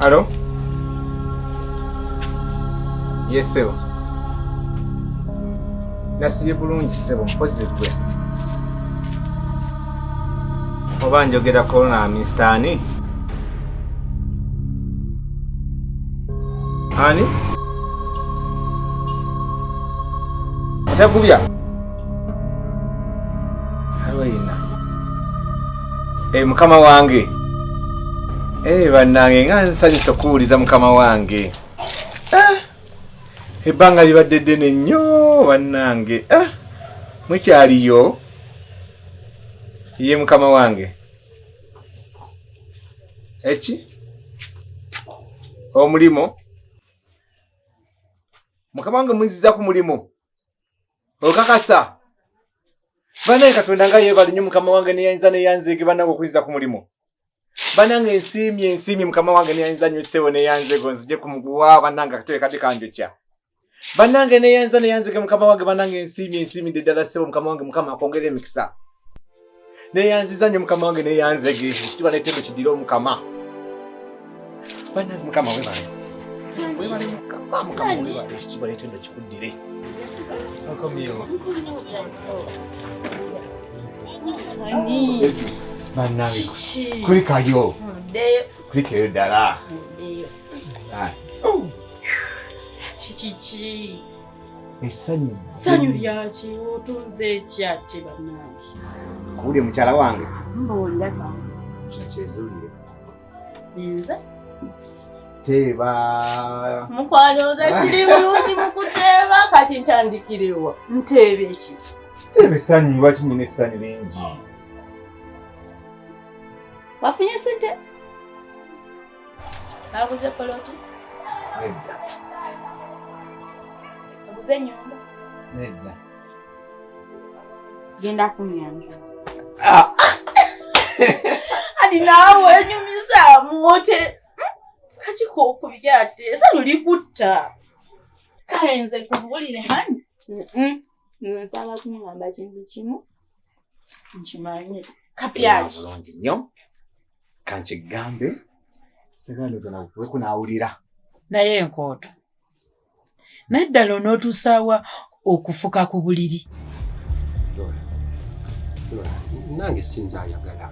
Alo? Yes, sebo. Nasibye bulungi sebo, mpozze gwe. oba njogera kolona Mr. Ani Ani atagubya alweyina e eh, mukama wange e bannange nga nsanyusa okuwuliza mukama wange eh, ebbanga libadde ddene nnyo bannange mukyaliyo iye mukama wange eki omulimu mukama wange muziza ku mulimu okakasa banaye katonda nga yebali nyo mukama wange neyayinza neyanzege banange okuziza ku mulimu banange ensiimi ensiimi mukama wange neyayinza nyo sebo neyanzego nzije kumuguwa banange akatebe kati kanjokya banange neyanza neyanzike mukama wange banange ensiimi ensiimi nde ddala ssebo mukama wange mukama akwongera emikisa neyanziza nyo mukama wange neyanzege ekitibwa netendo kidire omukama banange mukama webale webale mukama mukama webale ekitibwa netendo kikuddire okomyewo banange kulikayo kulikayo ddala kiki esanyu sanyu lyaki otunze ekyate banange kuwulye mukyala wange mbuulira kyakyezulire nze teeba mukwano nze siri bulungi mukuteeba kati ntandikirewa nteebe ki teeba esanyu lwaki nyina esanyu lingi wafunye sente Baguze poloti? Nedda. Baguze nyumba? Nedda. Genda ku nyanja. Ah. Hadi nawe nyumiza mwote. Kati ko kubyate. Esa nuli kutta. Kale nze kubulire hani. Mhm. Nze nsaba kumugamba kintu kimu. Nkimanyi. Kapyaki. Bulungi nnyo. kankigambe segandiza nawe weko nawulira naye enkooto naye ddala onootuusaawa okufuka ku buliri nange sinza ayagala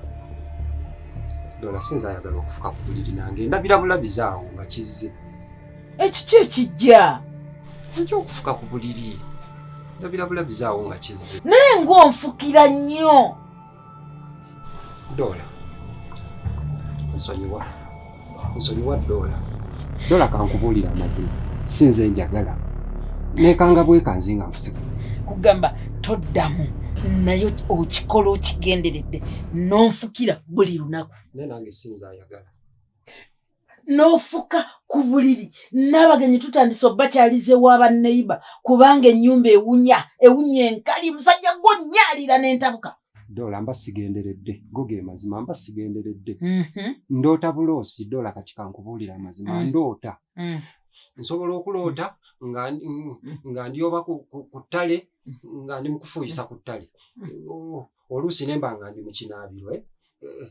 dola sinza ayagala okufuka ku buliri nange ndabira bulabizaawo nga kizze ekiki ekijja nja okufuka ku buliri ndabira bulabizaawo nga kizze naye ngaonfukira nnyo Doola nsonyiwa, nsonyiwa Doola. Doola kankubuulira amazima, si nze njagala nekanga bwekanzi nga nkusika. Kugamba toddamu naye okikola okigenderedde n'onfukira buli lunaku. Naye nange si nze ayagala. n'ofuka ku buliri n'abagenyi tutandise obakyalize wa banneiba kubanga ennyumba ewunya ewunya enkali musajja gwonyalira n'entabuka dola mba sigenderedde go ge mazima mba sigenderedde mhm. ndoota buloosi dola kati kankubuulira amazima mm. ndoota mm. nsobola okuloota nga mm. ndi oba ku ttale nga ndi mukufuuyisa ku ttale oluusi nemba nga ndi mukinaabirwe eh,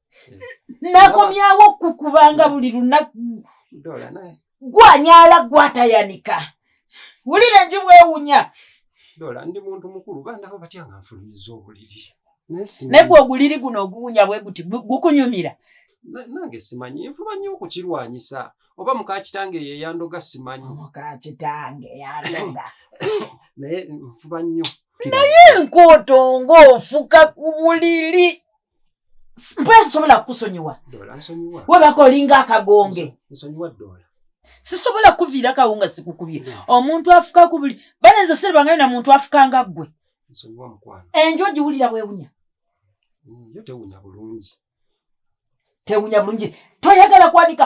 nakomyawo kukubanga buli lunaku gwanyala gwatayanika wulira enju bwewunya dola ndi muntu mukulu bandaba batya nga nfulumiza obuliri naye gwe oguliri guno oguwunya bwe guti gukunyumira nange simanyi nfuba nnyo okukirwanyisa oba mukakitange ye yandoga simanyi mukakitange yandoga naye nfuba nnyo naye nkooto ng'ofuka ku buliri mpwe sisobola kukusonyiwa webaka olinga akagonge sisobola kukuviira kawo nga sikukubye omuntu afuka ku buli bale nze siribangayo na muntu afuka nga ggwe enju ogiwulira bwewunya mm, tewunya bulungi toyagala kwanika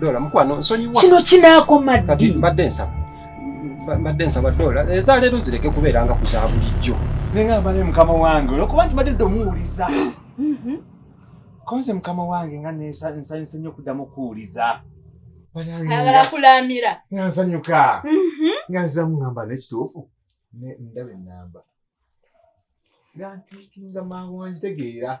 Dola mukwano nsonyiwa. Kino kinaakoma ddi? Kati mbadde nsaba. Mbadde nsaba Dola eza leero zireke kubeera nga kuza bulijjo. Nenga mbale mukama wange olwokuba nti mbadde domuwuliza. Mhm. Konze mukama wange nga nsanyuse nnyo okuddamu okuwuliza. Agala kulamira. Nga nsanyuka. Mhm. Nga nzamu ngamba n'ekituufu. Ndabe nnamba. Nga ntuukinga mangu wanjitegeera.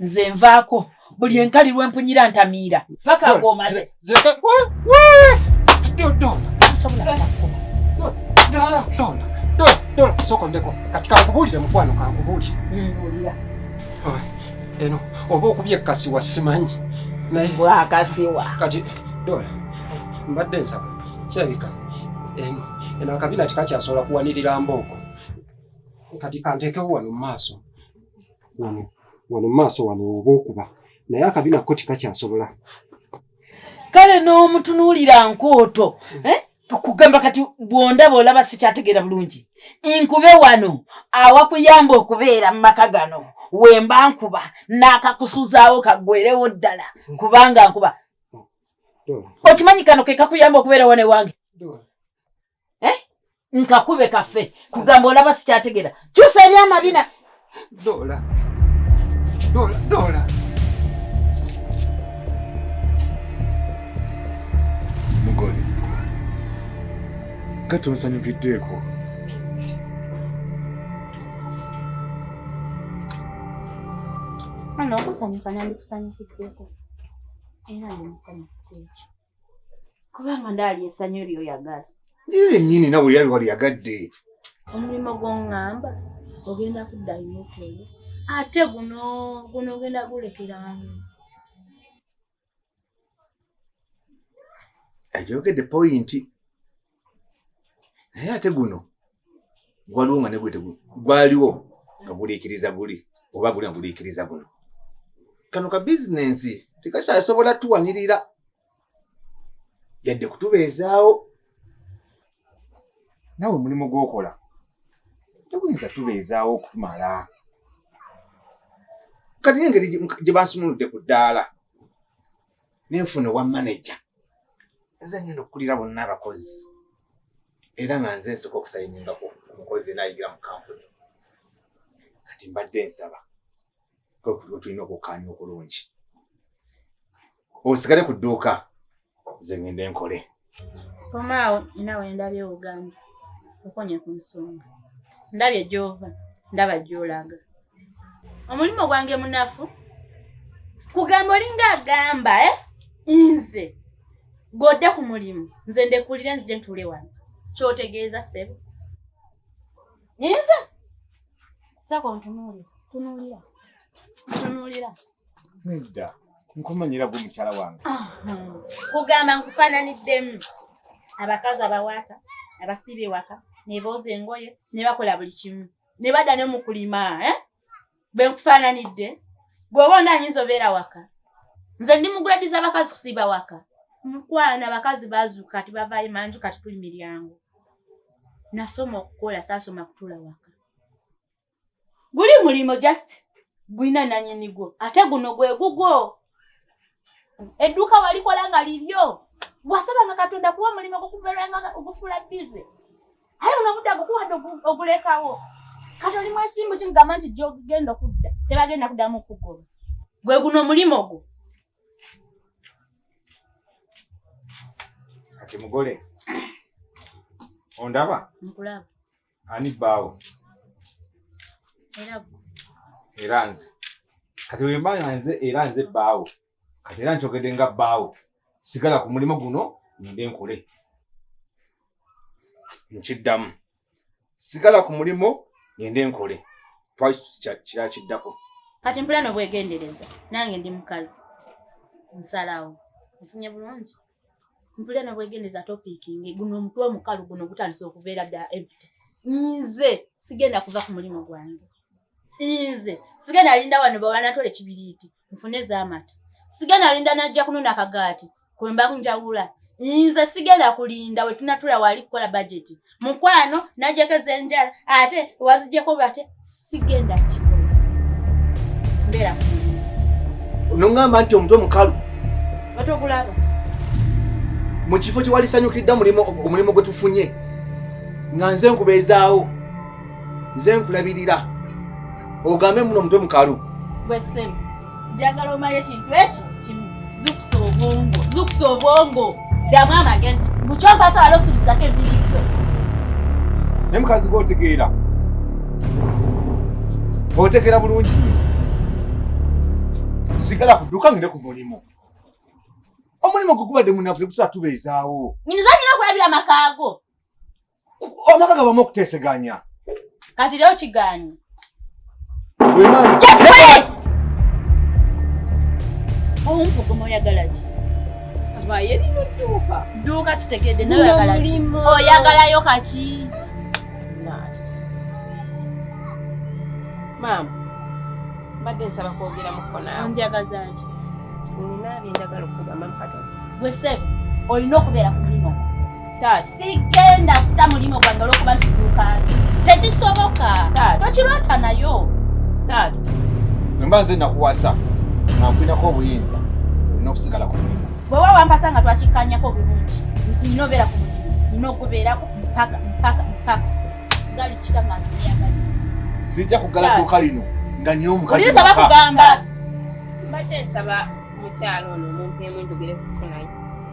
nze nvaako buli enkali lwempunyira ntamiira paka ngomaze sokondeko kati kankubuulire mukwano kankubuulire eno oba okubye kasiwa simanyi naye bwakasiwa kati dola mbadde nsaba kirabika eno eno akabina tekakyasobola kuwanirira mbooko kati kanteekewo wano mu maaso wano wano maaso wano oba okuba naye akabi nako tikakyasobola kale n'omutunuulira nkooto eh? kugamba kati bwondaba olaba sikyategeera bulungi nkube wano awakuyamba okubeera mu maka gano wemba nkuba n'akakusuzaawo kagwerewo ddala kubanga nkuba okimanyi kano kekakuyamba okubeera wano ewange eh? nkakube kafe kugamba olaba sikyategera kyusa eri amabina dola dola dola mugole nga tonsanyukiddeeko ano okusanyuka nandikusanyukiddeeko era ndi musanyufu kwekyo kubanga ndaali esanyu lyo yagala ire nyini nawe yali wali yagadde omulimu gwongamba ogenda kuddayo okole ate guno guno ogenda gulekeranu ayogedde poyinti naye ate guno gwaliwo nga negwe gwaliwo nga guliikiriza guli oba guli nga guliikiriza guno kano ka bizinensi tekakyasobola tuwanirira yadde kutubeezaawo nawe omulimu gwokola teguyinza tubeezaawo okutumala kati engeri gye bansumuludde ku ddaala nenfuna owa manaja nze ngenda okukulira bonna abakozi era nga nze nsooka okusayininga ku mukozi enayigira mu kampuni kati mbadde nsaba kwekutulina okukkaanya okulungi osigale ku dduuka nze ngende nkole komaawo naawe ndabye ogambye okonye ku nsonga ndabye gyova ndaba gyolaga omulimu gwange munafu kugamba olinga agamba e eh? nze godde ku mulimu nze ndekulire nzije ntuule wano kyotegeeza sebo nze sako ntunuulira tunuulira ntunuulira Nedda. Nkumanyira gwe mukyala wange. Kugamba nkufaananiddemu abakazi abawaata abasiiba ewaka ne booza engoye ne bakola buli kimu ne badda ne mu kulima eh? bwe nkufaananidde bw'oba onda ayinza obeera waka nze ndi muguladiza abakazi kusiiba waka mukwana abakazi bazuuka kati bavaayo manju kati tuli miryango nasoma okukola saasoma kutula waka guli mulimo just gulina nanyini gwo ate guno gwe gugwo edduuka walikola nga liryo wasabanga katonda kuwa omulimu gukuberanga ogufula bize aye buno obudde agukuwadde ogulekawo kati oli mwesimbu kimugamba nti gyogenda okudda tebagenda kuddamu okugoba gwe guno omulimu gwo kati mugole ondaba nkulaba ani bbaawo era nze kati wemba nga nze era nze bbaawo kati era nkyogedde nga bbaawo sigala ku mulimu guno ngende nkole nkiddamu sigala ku mulimu ngende nkole twali kira kiddako kati mpulana obwegendereza nange ndi mukazi nsalawo nfunye bulungi mpulira nobwegendeza topic nge guno omutwe omukalu guno gutandise okuveera dda empty nze sigenda kuva ku mulimu gwange nze sigenda alinda wano bawanatole kibiriiti nfune ezamata sigenda alinda najja kunona kagaati kwemba njawula nze sigenda kulinda wetunatula wali kukola bajeti mukwano najjako ezenjala ate wazijjako bate sigenda kikola mbeera nongamba nti omutwe mukalu batokulaba mu kifo kyewalisanyukidda omulimu gwe tufunye nga nze nkubeezaawo nze nkulabirira ogambe muno omutwe mukalu bwesemu njagala omanye ekintu eki kimu zukusa obwongo zukusa obwongo ddamu amagezi mukyopasa wala okusibisako ebiiyo naye mukazi gwe otegeera otegeera bulungi sigala kuduka ngende ku mulimu omulimu gwe gubadde munafu tegusaa tubeezaawo nyinza nyina okulabira amakaago amaka gabamu okuteseganya kati leo kiganyi omuvugomo oyagalaki duuka tutegedde noyagalaki oyagalayo kaki maama mbadde nsaba kwogera mukonanjagazaki nina byendagala okugamba mukatoni gwe sebo olina okubeera ku mulimu sigenda kuta mulimu gwange olwokuba ntiduka tekisoboka tokirwata nayo taata nomba nze nakuwasa nankulinako obuyinza olina okusigala ku mulimu bwewa wampasa nga twakikkanyako bulungi nti nina obeera ku mulimu nina okubeerako mpaka mpaka mpaka zali kita nga nziyagala sijja kugala duka lino nga nina omukazi bakugamba mbadde nsaba mukyalo ono omuntu emunjogere kufunayo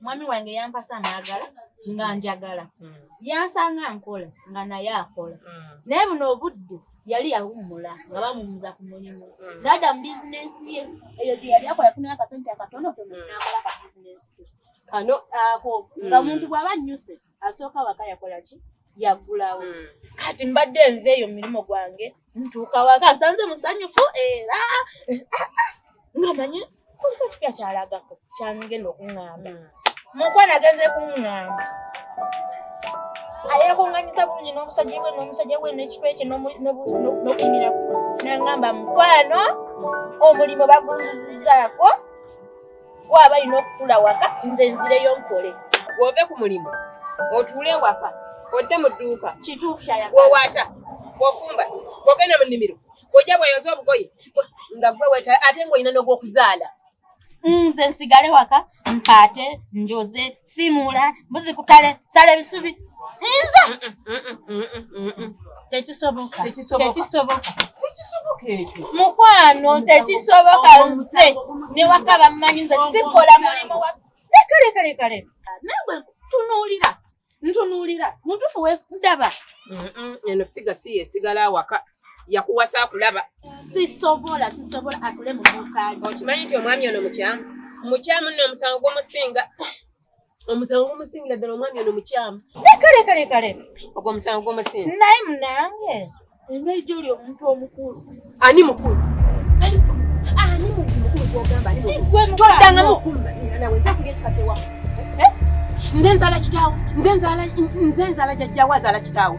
mwami wange yampasa naagala nga njagala mm. yansanga nkola nga naye akola mm. naye buno obudde yali yawummula nga bamumuza ku mulimu mm. naada mu bizinensi ye eyo gye yali akola yafunayo akasente akatonotono naakola ka bizinensi ke kano ako nga muntu bw'aba nnyuse asooka waka yakola ki yaggulawo hmm. kati mbadde nva eyo mumirimu gwange ntuuka waka nsanze musanyufu era eh, ah, ah, nga manyi kuliko kipya kyalagako kyangenda okuŋŋamba hmm. mukwana agenze kuŋŋamba ayakunganyiza bulungi n'omusajja we n'omusajja we n'ekitwe kye n'okuyimirako nangamba mukwano omulimu bagunzizizaako gwe aba alina okutula waka nze nzireyo nkole wove ku mulimu otuule ewaka odde mu dduuka kituufu kyayawowata wofumba wogenda mu nnimiro ojja bweyoza obugoye nga gwe weta ate ngaolina nogwokuzaala nze nsigale waka mpaate njoze simuula mbuzi kutale sala ebisubi nze tekisoboka tekisoboka mukwano tekisoboka nze newaka bammanyi nze sikola mulimu wa leka leka leka leka nawe tunuulira ntunuulira mutufu wendaba eno figa si yesigala awaka yakuwasa akulaba sisobola sisobola atule mu duuka lye okimanyi nti omwami ono mukyamu mukyamu nno omusango gumusinga omusango gumusingira ddala omwami ono mukyamu leka leka leka leka ogwo omusango gumusinga naye munange engeri gyoli omuntu omukulu ani mukulu ani mukulu gwogamba toddanga mukulu nawe nza kulya ekika kyewa nze nzaala kitaawo nze nzaala jajjaawo azaala kitaawo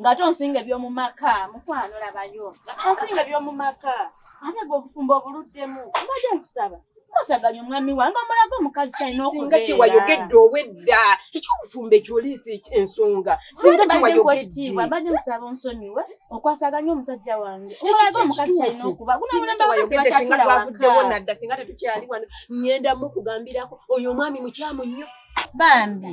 nga to nsinga ebyomu maka mukwano labayo onsinga ebyomu maka ate gwe obufumbo obuluddemu mbadde nkusaba osaganya omwami wange omulaga omukazi kyalina okusinga kyewayogedde owedda ekyobufumbo ekyoliisa ensonga singa kyewayogeddeekitiibwa mbadde nkusaba onsonyiwe okwasaganya omusajja wange omulaga omukazi kyalina okuba gunamulambasinga twavuddewo nadda singa tetukyali wano ngenda mukugambirako oyo omwami mukyamu nnyo bambi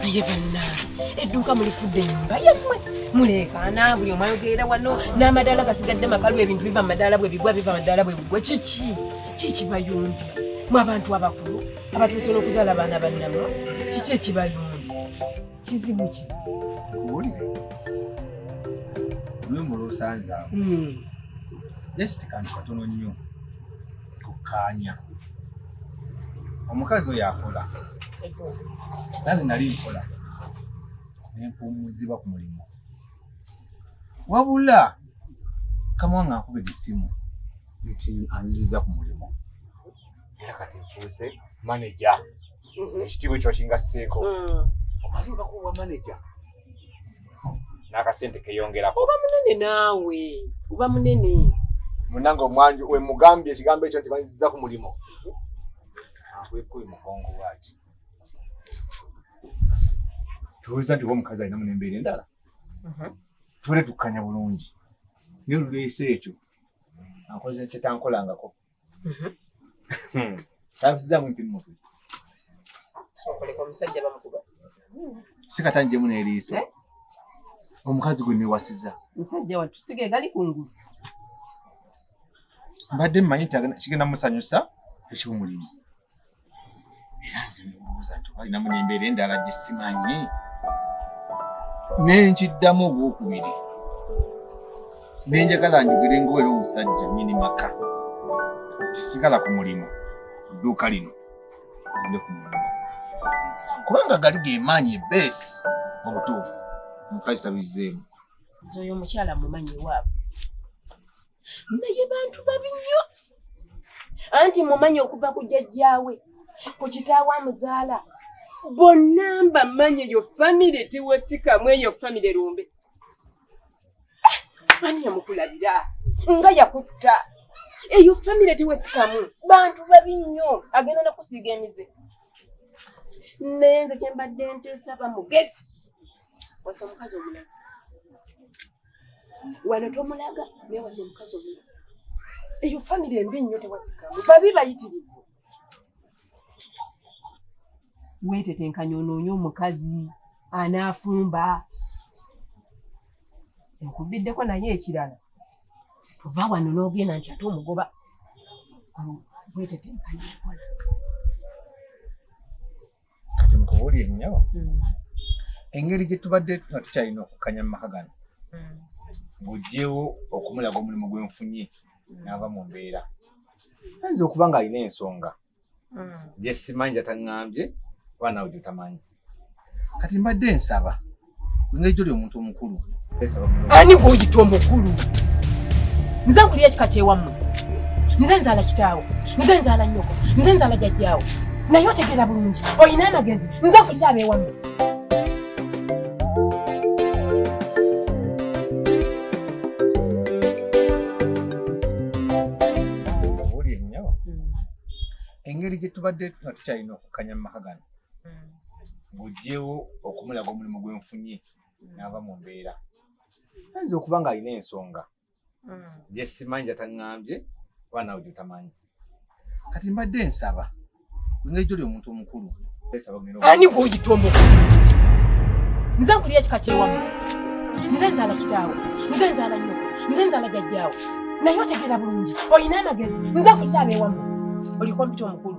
naye bannange edduuka mulifudde enyumba yemwe muleekaana buli omu ayogerera wano n'amadaala gasigadde makalu ebintu biva mu madaala bwe bigwa biva madaala bwe bigwa kiki kikibayumbya mu abantu abakulu abatuuse n'okuzaala abaana bannamwe kiki ekibayumbya kizibu ki kuwulire lumu lwosanzaawo hmm. just kantu katono nnyo tukkaanya omukazi oyo akola nange nali nkola nempuumuzibwa ku mulimu wabula kamuwa nga nkuba egisimu nti anziziza ku mulimu era kati nfuuse maneja mm-hmm. ekitiibwa ekyo kingasseeko mm. omanyi obakuwa maneja n'akasente keyongerako oba munene naawe oba munene munange omwanju wemugambye ekigambo ekyo nti banziza ku mulimu akwekubi mugongo bwati tuweza nti oba omukazi alina munembeera endala mm-hmm. tubere tukkanya bulungi naye oluleese ekyo ankoze kyetankolangako Mhm. Hmm. Tabusizamu mpini mutwe. Sokole kwa musajja bamukuba. Sikatanje mune eriiso. Eh? Omukazi gwe niwasiza. Musajja watu sige gali kungulu. Mbadde mmanyi kigenda musanyusa eky'omulimu. era nze nebuuza nti oba alinamu nembeera endala gye simanyi nenkiddamu ogwokubiri nenjagala njogere ngaoera omusajja nyini maka tisigala ku mulimu dduuka lino nde ku mulimu kubanga gali gemaanyi ebeesi mu butuufu mukazi tabizzeemu nze oyo omukyala mumanyi waabwe naye bantu babi nnyo anti mumanyi okuva ku jajjaawe ku kitaawe amuzaala bonna mbamanyi eyo famire tewasikamu eyo famire lumbe ani yamukulabira nga yakutta eyo famire tewasikamu bantu babi nnyo agenda nakusiiga emize naye nze kyembadde nteesa bamugezi wasa omukazi omulala wano tomulaga naye wasa omukazi omulala eyo famire embi nnyo tewasikamu babi bayitirivu weetetenkanya onoonye omukazi anaafumba nkubiddeko naye ekirala tova wano n'ogenda nti ate omugoba weetetenkanya okola kati mukubuli ennyo mm. engeri gye tubadde nga tukyalina okukanya mu maka gano mm. bujjewo okumulaga omulimu gwenfunye mm. naava mu mbeera ayinza okuba nga alina ensonga gyesimanyi gyataŋambye oba nawe gyotamanyi kati mbadde nsaba Ng'ekyo lyo omuntu omukulu. Ani gw'oyita omukulu? Nze nkulira ekika ky'ewammwe. Nze nzaala kitaawo. Nze nzaala nnyoko. Nze nzaala jajjaawo. Naye otegeera bulungi. Olina amagezi. Nze nkulira ab'ewammwe. engeri gye tubadde tukyalina okukanya mu maka gano hmm. ng'oggyewo okumulaga omulimu gwe nfunye hmm. n'ava mu mbeera ayinza okuba ng'alina ensonga gye simanyi gyataŋŋambye oba nawe gyotamanyi kati mbadde nsaba engeri gyoli omuntu omukulu ani gw'oyita omukulu nze nkulira ekika kyewamu nze nzaala kitaawo nze nzaala nnyo nze nzaala jajjaawo naye otegeera bulungi olina amagezi nze nkulira abeewamu oliko mpita omukulu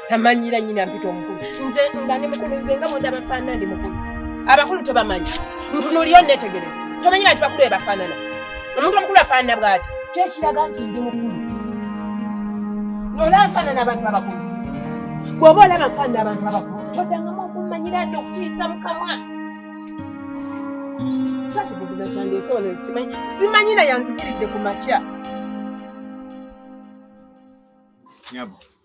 tamanyira nyina mpita omukulu nze nga ndi mukulu nze nga munda bafaanana ndi mukulu abakulu tebamanyi ntunuliyo netegereza tomanyi bantu bakulu bebafaanana omuntu omukulu afaanana bwati kyekiraga nti ndi mukulu nola nfaanana abantu abakulu bwoba olaba nfaanana abantu abakulu todangamu okumanyira ndi okukiisa mukamwa sakibuguza kyange ensi wano simanyi simanyi naye anzikiridde ku makya nyabo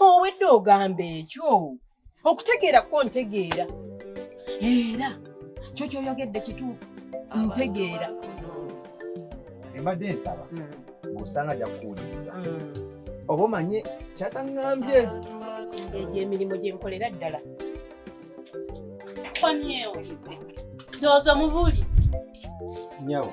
owedde ogamba ekyo okutegeera ko ntegeera era kyo kyoyogedde kituufu ntegeera embadde nsaba hmm. ng'osanga ajja kukuwuliriza hmm. oba omanye kyataŋŋambye egyo emirimu gye nkolera ddala kwamyewo ndowooza omubuli nyawo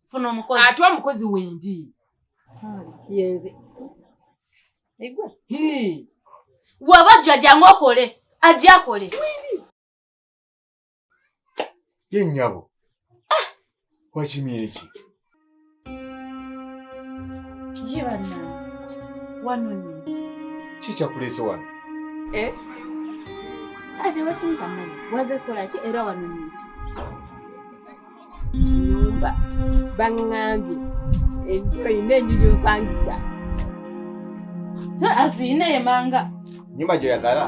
funa omukozi ate omukozi wendi yenze egwe waba jjo ajangu okole ajja akole ye nyabo ah! wakimye eki ye banna wanonye kikyakuleese wano eh? ate wasinza mani waze kukola ki era wanonye eki nyumba bangambye enjuba yina enju gyopangisa aziyina emanga nyumba gyoyagala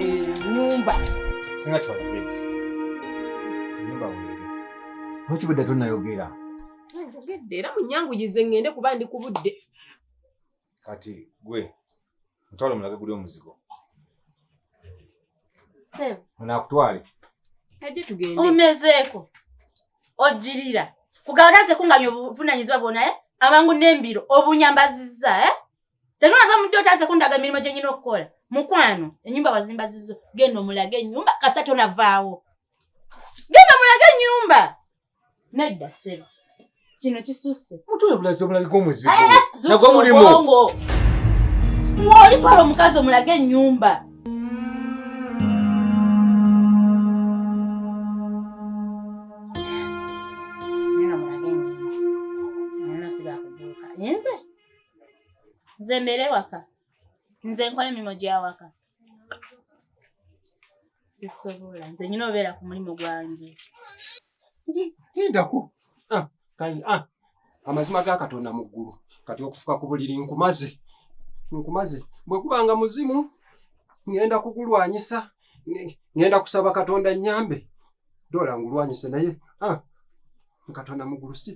eh, nyumba singa kiwagibeti nyumba weri nokibudde tonayogera njogedde era munyanguyize ngende kuba ndi kubudde kati gwe mutwale omulage guli omuzigo nakutwale omezeeko ogirira kugabana ze kunganya obuvunanyizibwa bwona eh? abangu n'embiro obunyambaziza eh? tetunava mudde otaze kundaga emirimu gye nyina okukola mukwano enyumba wazimba zizo genda omulaga enyumba kasita tonavaawo genda omulaga enyumba Nedda sebo. Kino kisusse. Mutwe bulaze bulagiko omuzigo. Eh, eh, Nagwo mulimu. Woli palo omukazi omulage ennyumba. nze mbeere waka nze nkola emirimu gyawaka sisobola nze nyina obeera ku mulimu gwange ndindako ah, ah, amazima ga katonda mu ggulu kati okufuka ku buliri nkumaze nkumaze bwe kubanga muzimu ŋenda kugulwanyisa ŋenda kusaba katonda nyambe dola ngulwanyise naye ah, katonda mu ggulu si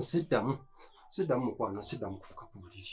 siddamu siddamu mukwano siddamu kufuka ku buliri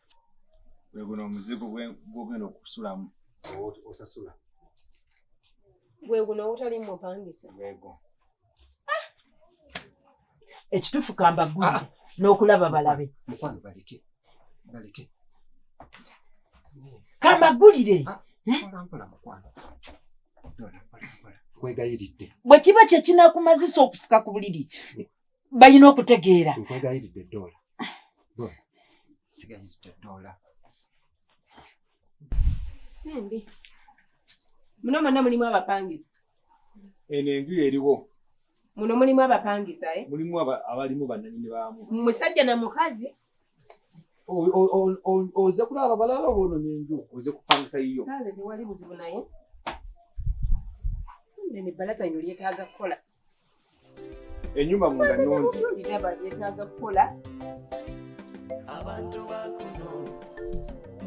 gwe guno omuzigo gwogenda okusulamu osasula gwe guno ogutali mupangisa gwego ah! ekituufu kamba gwe ah! n'okulaba balabe mukwano baleke baleke kamagulire ah, eh? bwe kiba kye kinakumazisa okufuka ku buliri balina okutegeera nkwegayiride doola sigayiride doola sembi muno mwonna mulimu abapangisa eno enju eriwo muno mulimu abapangisa eh? mulimu abalimu bananyini baamu musajja na mukazi oze kulaba balaba bononye enju oze kupangisa yiyo tewali buzibu naye nene balaza ino lyetaaga kukola enyumba munda nungi ndaba yetaaga kukola abantu bakuno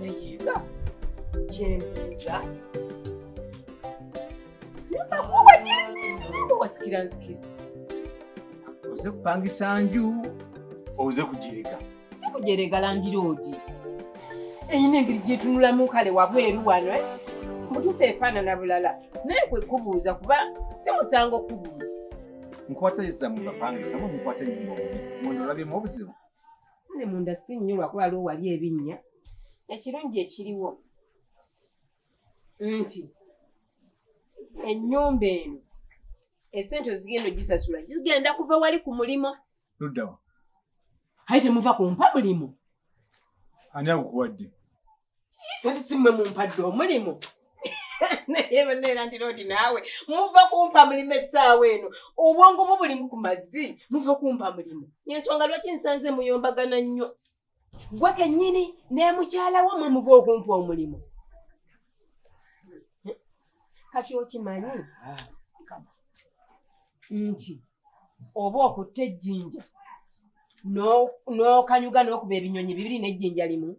naye nga kyembuuza nakuba gyezindu wasikira nsikira oze kupangisa nju oze kugirika si kujerega landiroodi eyina engeri gyetunulamu kale wabweru wano eh? mutuufu efaanana bulala naye kwe kubuuza kuba si musango kubuuza nkwata ezamu bapangisa mu nkwata enyumba obubi munda olabyemu obuzibu ne munda si nnyo lwakuba lwo wali ebinnya ekirungi ekiriwo nti ennyumba eno esente ozigenda ogisasula zigenda kuva wali ku mulimu luddawa aye temuva ku mpa mulimu ani akukuwadde sati simwe mumpadde omulimu naye banaera nti lodi naawe muva kumpa mulimu essaawa eno obwongo bwo bulimu ku mazzi muva kumpa mulimu yensonga lwaki nsanze muyombagana nnyo gwe kennyini nemukyala wo mwe muva okumpa omulimu kati okimanyi nti oba okutta ejjinja n'okanyuga n'okuba ebinyonyi bibiri n'ejjinja limu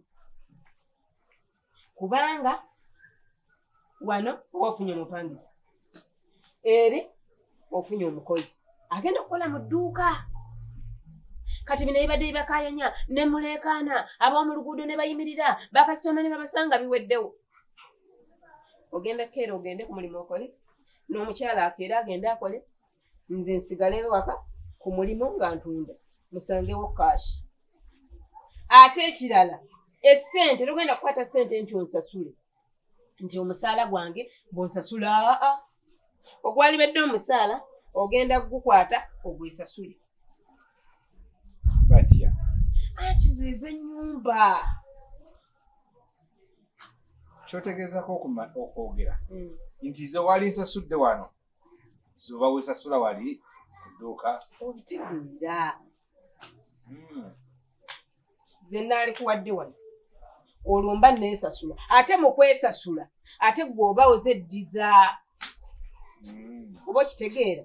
kubanga wano oba ofunye omupangisa eri ofunye omukozi agenda okukola mu dduuka kati bino ebibadde bibakayanya ne muleekaana ab'omu luguudo ne bayimirira bakasitoma ne babasanga biweddewo ogenda keera ogende ku mulimu okole n'omukyala akeera agende akole nze nsigale waka ku mulimu nga ntunda musangewo kaashi ate ekirala esente togenda kukwata sente nti onsasule nti omusaala gwange bwonsasula aa ogwalibadde omusaala ogenda kugukwata ogwesasule batya akiziiza enyumba kyotegeezako okwogera mm. nti ze wali nsasudde wano zoba wesasula wali kuduuka obitegeera hmm. ze naali kuwadde wano olwo mba neesasula ate mu kwesasula ate gwe oba ozeddiza hmm. oba okitegeera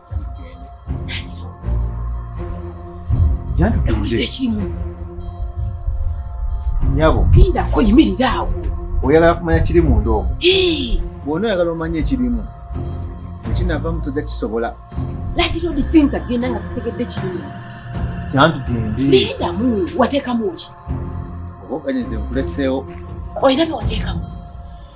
nyabo genda koyimirira awo oyagala kumanya kiri munda omu bwona oyagala omanya ekirimu ekinavamu tojja kisobola ladiroodi sinza genda nga sitegedde kirimu nantugendeedamu wateekamu ki oba okanyeze nkuleseewo oyina bye wateekamu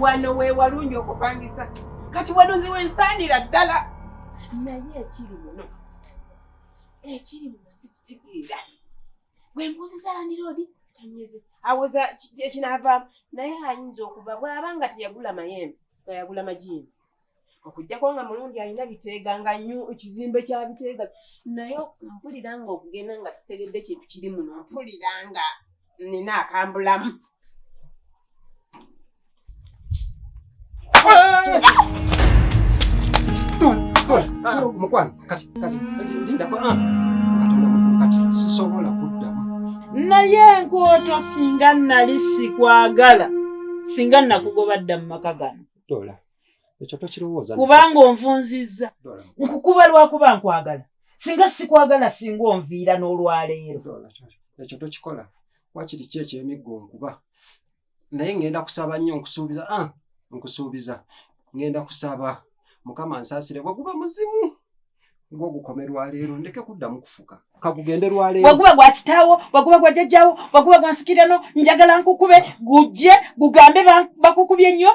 wano wewalungi okupangisa kati wano nziwensaanira ddala naye ekiri muno ekiri muno sikitegeera gwembuuziza landiroodi tanyeze awoza ekinaavaamu naye ayinza okuva bw'aba nga teyagula mayembe nga yagula majiini okujjako nga mulungi alina biteega nga nyo ekizimbe kya biteega naye mpulira nga okugenda nga sitegedde kintu kiri muno mpulira nga nina akambulamu mukwano kati kati ndindako ah. katonda mukulu kati sisobola kuddamu naye enkooto singa nali sikwagala singa nakugoba dda mu maka gano dola ekyo tokirowooza kubanga onvunzizza nkukuba lwakuba nkwagala singa sikwagala singa onviira n'olwaleero ekyo tokikola wakiri ki ekyemiggo nkuba naye ngenda kusaba nnyo nkusuubiza ah, nkusuubiza ngenda kusaba mukama nsaasire bwe guba muzimu ng'ogukome lwaleero ndeke kuddamu kufuka kagugende lwaleero waguba gwa kitaawo waguba gwa jajjawo waguba gwa nsikirano njagala nkukube gujje gugambe bakukubye nnyo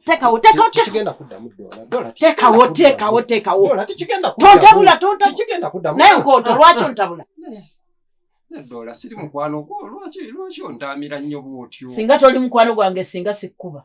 tekawo tekawo tekigenda kuddamu dola tekawo tekawo tekawo dola tekigenda kuddamu tontabula tontabula tekigenda kuddamu naye nkoto lwaki ontabula dola siri mukwano gwo lwaki lwaki ontamira nnyo bwotyo singa toli mukwano gwange singa sikuba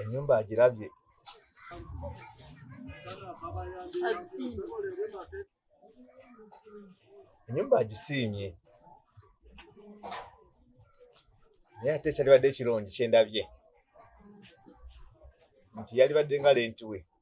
enyumba agirabye enyumba agisiimye naye ate ekyalibadde ekirungi kyendabye nti yalibadde nga lenti we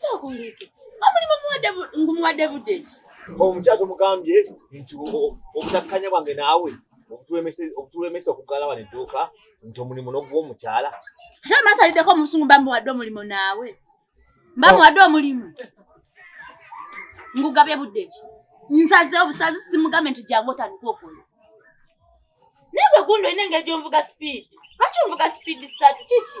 sookuleeke omulimu muwadde ngumuwadde budde ki omukyala tomugambye nti obutakkanya bwange naawe obutulemesa okuggala wano edduuka nti omulimu noguwa omukyala ate omasaliddeko omusungu bamuwadde omulimu naawe bamuwadde omulimu ngugabye budde ki nsaze obusazi simugambe nti jangu otandika okola naye gwe gundi olina engeri gyonvuga sipiidi lwaki onvuga sipiidi satu kiki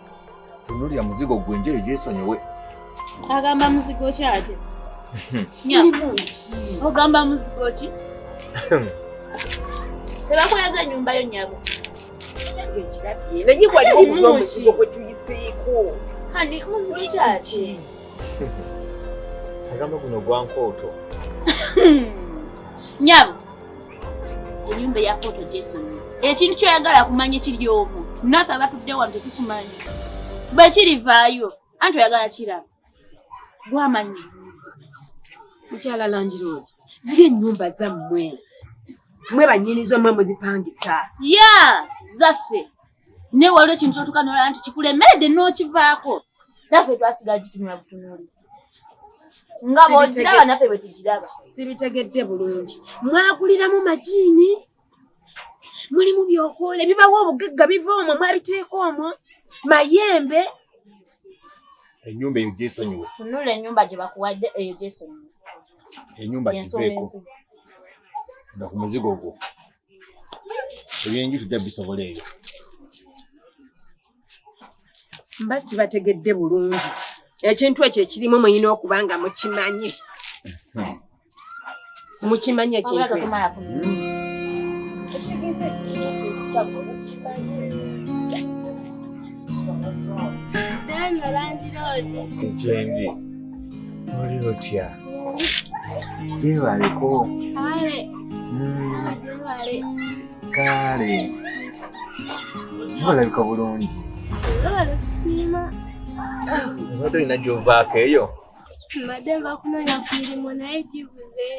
tunulira muzigo gwe njeyo gyesonyiwe agamba muzigo ki ate ogamba muzigo ki tebakweza enyumba yo nyabo naye waliwo okuba omuzigo gwe tuyiseeko kani muzigo kyaki agamba guno gwankooto nyabo enyumba eya kooto gyesonyiwa ekintu kyoyagala kumanya kiri omu nafe abatudde wano tetukimanyi bwe kirivaayo anti oyagala kiraba gwamanyi mukyala landiroodi ziri enyumba zammwe mwe banyinizo mwe muzipangisa ya zaffe naye waliwo ekintu kyotuka nolaba nti kikulemeredde n'okivaako naffe twasigala gitunula butunuulizi nga bwogiraba naffe bwe tugiraba sibitegedde bulungi mwakuliramu majiini mulimu byokoola ebibawo obugagga biva omwo mwabiteeka omwo mayembe enyumba eyo gyesonyiwe tunula enyumba gye bakuwadde eyo gyesonyiwe enyumba giveeko nga ku muzigo gwo ebyenju tujja bisobola ebyo mba sibategedde bulungi ekintu ekyo ekirimu muyina okuba nga mukimanyi hmm. mukimanyi ekintu ekyendi oli otya Jebaleko. Kale. Mm. Jebale. Kale. Olabika bulungi. Olabale kusiima. Oba tolina gy'ovaako eyo? Mbadde nva kunoonya ku mirimu naye gibuze.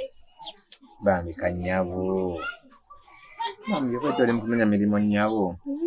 Bambi kanyabo. Bambi obadde oli mu kunoonya mirimu nnyabo. Mm.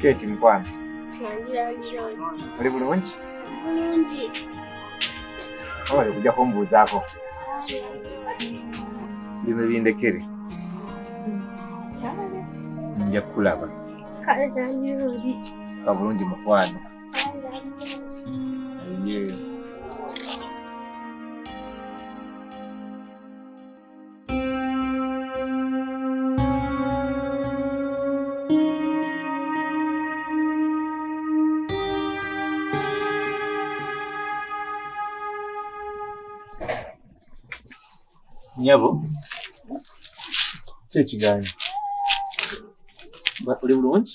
Keti mukwano. Oli bulungi? Bulungi. Oba kujja kumbuuzaako. Bino bindekere. Nja kukulaba. Kale zanyiroodi. Ka bulungi mukwano. Aye. nyabo kyekigaanyi uli bulungi